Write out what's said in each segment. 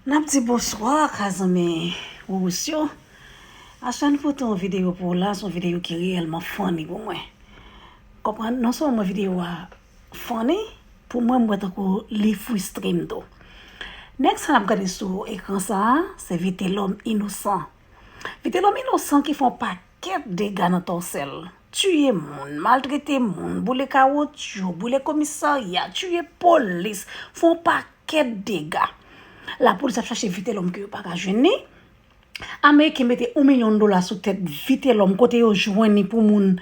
N ap di bonswa ak a zanmi Wouwous yo. Aswè n pote yon videyo pou w la, s on videyo ki reyèlman funny pou mwen. Konprann, non sèlman videyo a funny, pou mwen m wè tankou li fristre m tou. Nèg sa n ap gade sou ekran sa a, se Vitelòm Inosan. Vitelòm Inosan ki fè yon Kèk dega nan Tòsèl, tiye moun, maltrete moun, boule kawotchou, boule komisarya, tiye polis, fè yon pakèt dega. Lapolis ap chache Vitelòm ke yo pa ka jwenn ni. Ameriken mete yon milyon dola sou tèt Vitelòm kote yo jwenn ni pou moun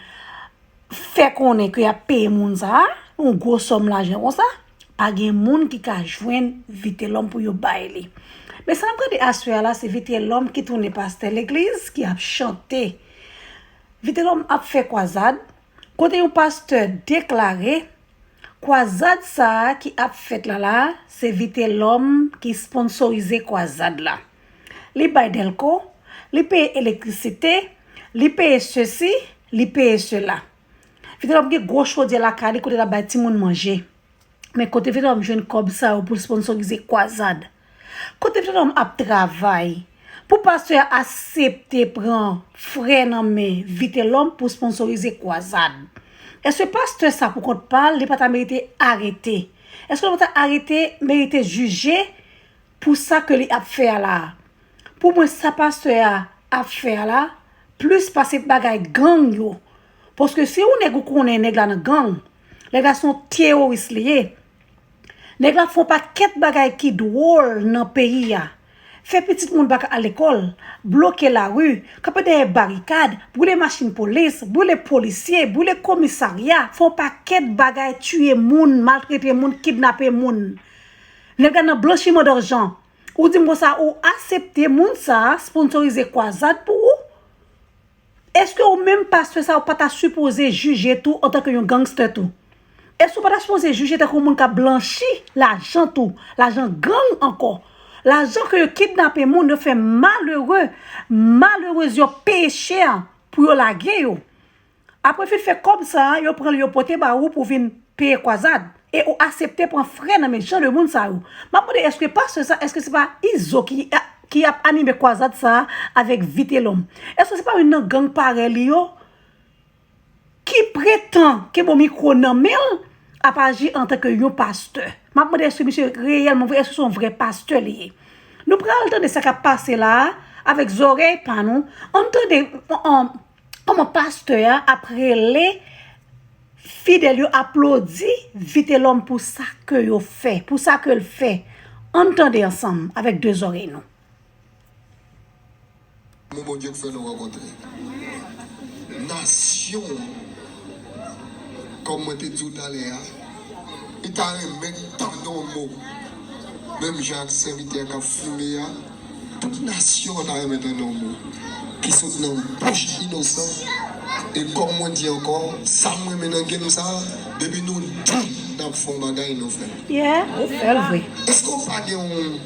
fè konnen ke yap peye moun sa a yon gwo sòm lajan konsa, pa gen moun ki ka jwenn Vitelòm pou yo bay li. Men sa n ap gade aswè a la se Vitelòm ki tounen pastè legliz ki ap chante. Vitelòm ap fè kwazad, kote yon pastè deklare kwazad sa a ki ap fèt la la a se Vitelòm ki sponsorize kwazad la. li bay dèlko, li peye elektrisite, li peye sesi, li peye sela. Vitelòm gen gwo chodyè lakay li kote l ap bay timoun manje. Men kote Vitelòm jwenn kòb sa yo pou l sponsorize kwazad? Kote Vitelòm ap travay pou pastè a asepte pran frè nan men Vitelòm pou sponsorize kwazad? Èske pastè sa pou kont pa l li pa ta merite arete? Èske l pa ta arete, merite jije? Pou sa ke li ap fè a la. Pou mwen sa pastè a ap fè a la plis pase bagay gang yo paske se yon nèg ou konnen nèg la nan gang nèg la son teoris li ye nèg la fon pa kèt bagay ki dwòl nan peyi a fè pitit moun baka al lekòl bloke la ru kanpe dèyè barikad boule machin polis boule polisye boule komisarya fon pa kèt bagay tiye moun maltrete moun kidnape moun. Nèg la nan blanchiman darjan. Ou dim konsa ou asepte moun sa sponsorize kwazad pou ou? Eske ou menm pastè sa ou pa ta sipoze jije tou antan ke yon gangster tou? Eske ou pa ta sipoze jije tanke yon moun kap blanchi lajan tou, lajan gang ankò, lajan ke yo kidnape moun yo fè malere, malerez yo peye chè pou yo lage yo? Apre fi fè kòb sa a, yo pran l yo pote ba ou pou vin peye kwazad. E ou asepte pran frè nan men jan de moun sa yo. M ap mande èske pastè sa, èske se pa Izo ki ap anime kwazad sa a avèk Vitelòm? Èske se pa youn nan gang parèy li yo ki pretan ke bon mikwo nan men l ap aji antanke youn pastè? M ap mande èske misye reyèlman vre, èske se youn vrè pastè li ye? Nou pral tande sa k ap pase la a avèk zòrèy pa nou. An n tande. Koman pastè a ap rele fidèl yo aplodi vitelòm pou sa ke yo fè, pou sa ke l fè. Ann tande ansanm avèk 2 zòrèy nou. Mo Bondye k fè nou rankontre nasyon an kòm mwen te di w talè a li ta renmen tande yon mo menm jan ak sèvitè kap fime a. Tout nasyon an ta renmen tande yon mo ki sot nan bouch inosan e kòm mwen di ankò sa m renmen nan game sa depi nou di nap fè yon bagay nou fèl. Yeah ou fèl vre. Eske ou pa gen yon.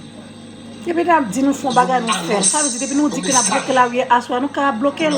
Depi nap di nou fè yon bagay nou fèl sa vle di depi nou di ke nap bloke lari aswè a nou ka blokel.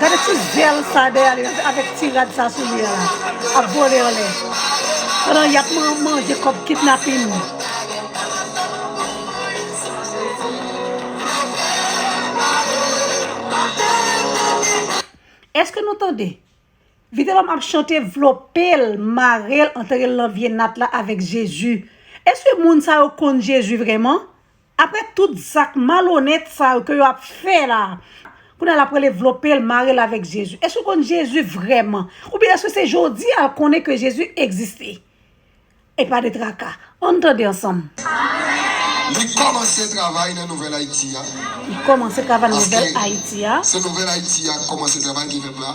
Gade ti zel sa dèyè li la avèk ti rad sa sou li a la ap vole anlè pandan yap manje kòb kidnapin. Eske nou tande? Vitelòm ap chante vlopel marel anterel nan vye nat la avèk Jezi. Eske moun sa yo konn Jezi vrèman? Aprè tout zak malonèt sa yo ke yo ap fè la, kounye a l ap rele vlope l, mare l avèk Jezi. Èske l konn Jezi vrèman? Oubyen èske se jodi a l konnen ke Jezi egziste? Epa de traka. An n tande ansanm. Li kòmanse travay nan Nouvèl Ayiti a. Li kòmanse travay nan Nouvèl Ayiti a. Paske se Nouvèl Ayiti a k kòmanse travay ki fèt la.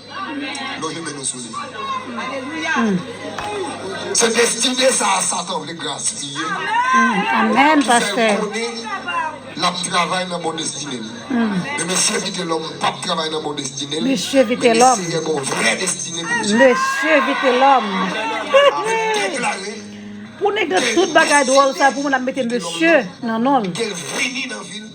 Lonje men nou sou li. Se destine sa a Satan vle gaspiye ki fè l konnen l ap travay nan bon destine l. Men mesye Vitelòm pa p travay nan bon destine l, men li seyè yon vrè destine pou misye. Mesye Vitelòm! Pou nèg nan tout bagay dwòl sa pou moun ap mete mesye nan non l.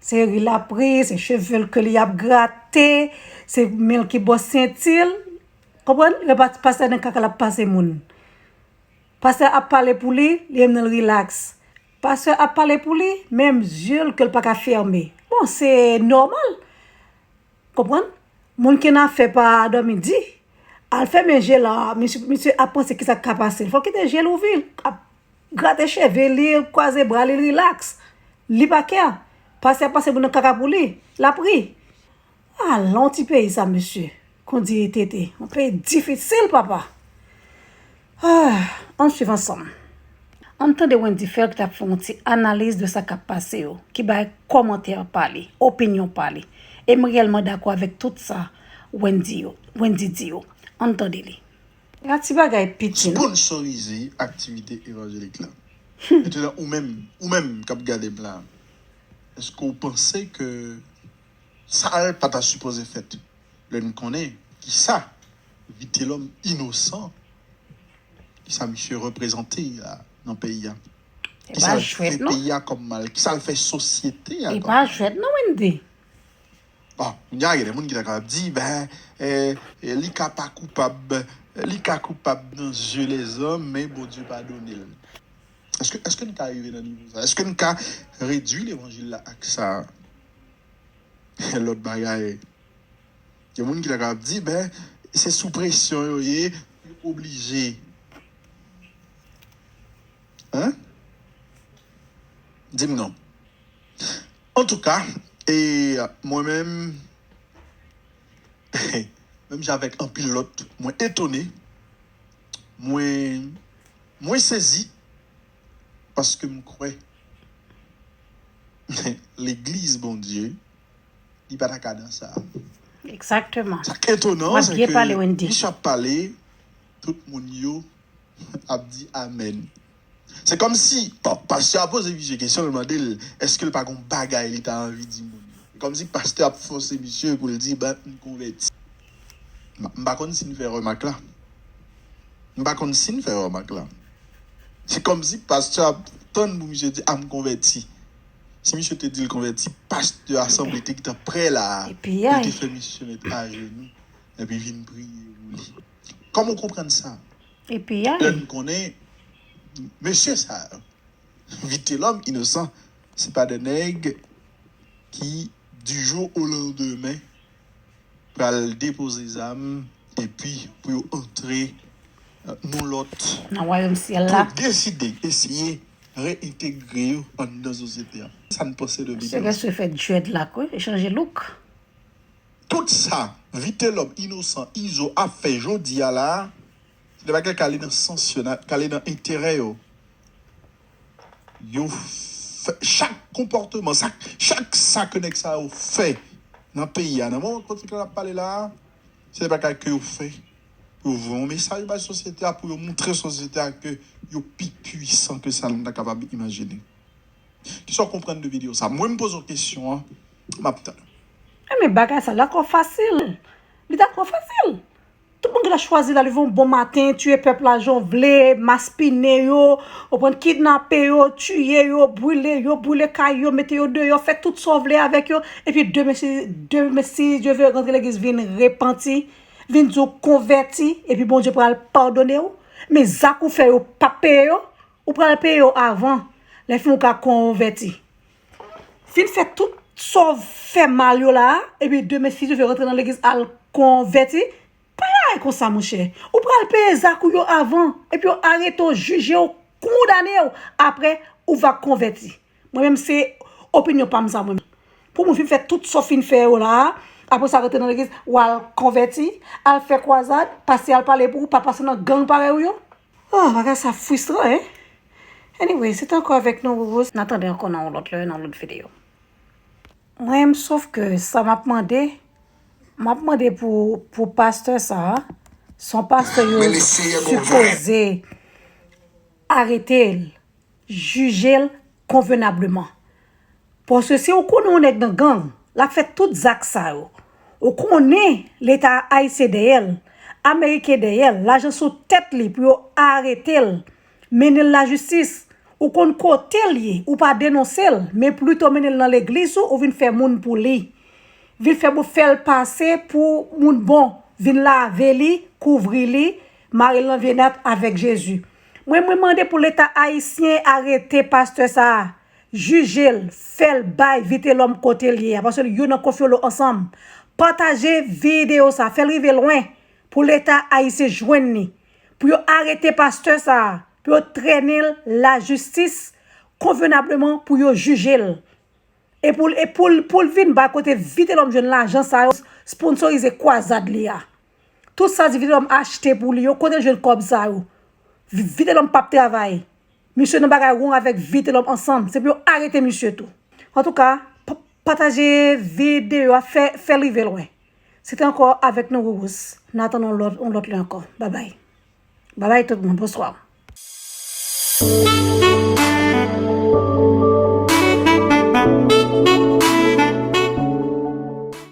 Se ri lap ri, se chevel ke li ap grate, se menl ki bò sentil, konprann? Lè pastè nan kaka lap pase moun. Pastè ap pale pou li, li menm li relax. Pastè ap pale pou li, menm zyel kel pa ka fème. Bon se nòmal. Konprann? Moun ki nan afè pa dòmi di. Al fèmen jel la, misye ap panse kisa k ka pase. Fòl kite jel ouvi. Grate cheve li, kwaze bra li, l relax. Li pa kè. Pase ap pase moun nan kaka pou li. L ap ri. A la yon ti peyi sa mesye. Kondye TT. Yon peyi difisil papa. Ah! Ann swiv ansanm. Ann tande Wendy Phel ki t ap fè yon ti analiz de sa k ap pase yo. Ki bay kòmantè pa li. Opinyon pa li. E m reyèlman dakò avèk tout sa Wendy yo, Wendy di yo. Ann tande li. Ala ti bagay piti non. Sponsorize aktivite evanjelik la. Metenan ou menm, ou menm kap gadem la, eske ou panse ke sal pa ta sipoze fèt lè n konnen kisa Vitelòm inosan, kisa misye reprezante la nan peyi a? Kisa l fè peyi a kòm mal? Kisa l fè sosyete a kòm mal? E pa jwèt non Wendy. Bon, kounye a gen de moun ki ta kapab di, ben, li ka pa koupab, li ka koupab nan zye lèzòm, men Bondye padone l. Èske n ka rive nan nivo sa a? Èske n ka redui levanjil la ak sa a? Gen lòt bagay. Gen moun ki ta kapab di, ben, se sou presyon yo ye, yo oblije. Hein? Di m non. Antouka e mwen menm menm jan avèk anpil lòt mwen etone, mwen mwen sezi paske m kwè legliz Bondye li pa ta ka nan sa. Exactement. Sa k etonan an Wap se byen ke pale Wendy. Misye ap pale tout moun yo ap di amen. Se komsi pastè a poze misye kesyon li mande l eske l pa gon bagay li ta anvi di moun yo. Se komsi pastè ap fose misye pou l di m konvèti. M pa konn si n fè remak la. M pa konn si n fè remak la. Se komsi pastè ap tann pou misye di a m konvèti. Si misye te di l konvèti, pastè a sanble te gntan pre la a pou l te fè misye met ajenou. epi vin priye ou li. Kòman ou konprann sa? Epi a. Lè n konnen mesye sa yo, Vitelòm, Inosan, se pa de nèg ki di jou o landemen pral depoze zam epi pou yo antre non lòt. Nan wayòm syèl la. Pou deside eseye reyentegre yo anndan sosyete a. Sa n panse de Vitelòm? Sè Gèswe fè djèdlak wi, li chanje louk. Tout sa Vitelòm, Inosan, Izo ap fè jodi a la a, se de bagay k ale nan sans yo, k ale nan enterè yo. Yo fè chak konpòteman, chak sa ke nèg sa yo fè nan peyi a, nan moman patikilè n ap pale la a, se de bagay ke yo fè pou yo voye yon mesaj bay sosyete a, pou yo montre sosyete a ke yo pi puisan ke sa nou ta kapab imajine. Kisa w konprann de video sa? Mwen m poze w kesyon an, m ap tann ou. Eh men bagay sa lakò fasil. Li dakò fasil. Tout moun gentan chwazi la leve yon bon maten, tiye pèp la jan w vle, maspinen yo, ou konprann, kidnape yo, tiye yo, brile yo, brile kay yo, mete yo deyò, fè tout sa w vle avèk yo, epi demen si, demen si Dye ve, rantre legliz vin repanti, vin di w konvèti, epi Bondye pral padone w. Men zak ou fè yo pap peye yo. Ou pral peye yo avan. Lè fin ou ka konvèti. Fin fè tout sa w fè mal yo la a, epi demen si Dye vle rantre nan legliz al konvèti, pa lage konsa monchè. Ou pral peye zak ou yo avan, epi yo arete w, jije w, kondane w, aprè ou va konvèti. Mwen menm se opinyon pa m sa mwen menm. Pou moun fin fè tout sa w fin fè yo la a, aprè sa rantre nan legliz, w al konvèti, al fè kwazad, pase al pale pou ou, pa pase nan gang parèy ou yo. Oh bagay sa frustrant hein Anyway se te anko avek nou Roro. Na tande anko nan yon lot lè nan yon lot video. Mwen m sof ke sa map mande map mande pou pastè sa son pastè yo sipoze arete l. jije l konvenableman. Paske si ou konnen yon nèg nan gang, l ap fè tout zak sa yo. Ou konnen leta ayisyen dèyè l, ameriken dèyè l, lajan sou tèt li pou yo arete l, mennen l lajistis. Ou konn kote l ye, ou pa denonse l, men plito mennen l nan legliz ou, ou vin fè moun pou li. Vin fè moun fè l pase pou moun bon, vin lave li, kouvri li, mare l nan vye nat avèk Jezi. Mwen mwen mande pou leta ayisyen arete pastè sa a jijel fèl bay vitelòm kotel ye a paske yo nan konfyolo ansanm pataje video sa fèl rive lwen pou leta ayisyen jwenn ni pou yo arete pastè sa a pou yo trènenl la jistis konvenableman pou yo jijel epoul epoul poul vin bay kote vitelòm jwenn lajan sa yo sponsorize kwazad li a. Tout sa di vitelom achte pou li yo kotel jwenn kob sa yo vitelom pap travay misye nan bagay wrong avek vitelom ansanm se pou yo arete misye tou antouka pataje video a fèl rive lwen se te anko avek nou Rurus nan atann yon lot yon lot lè anko babay babay tout moun bonswa.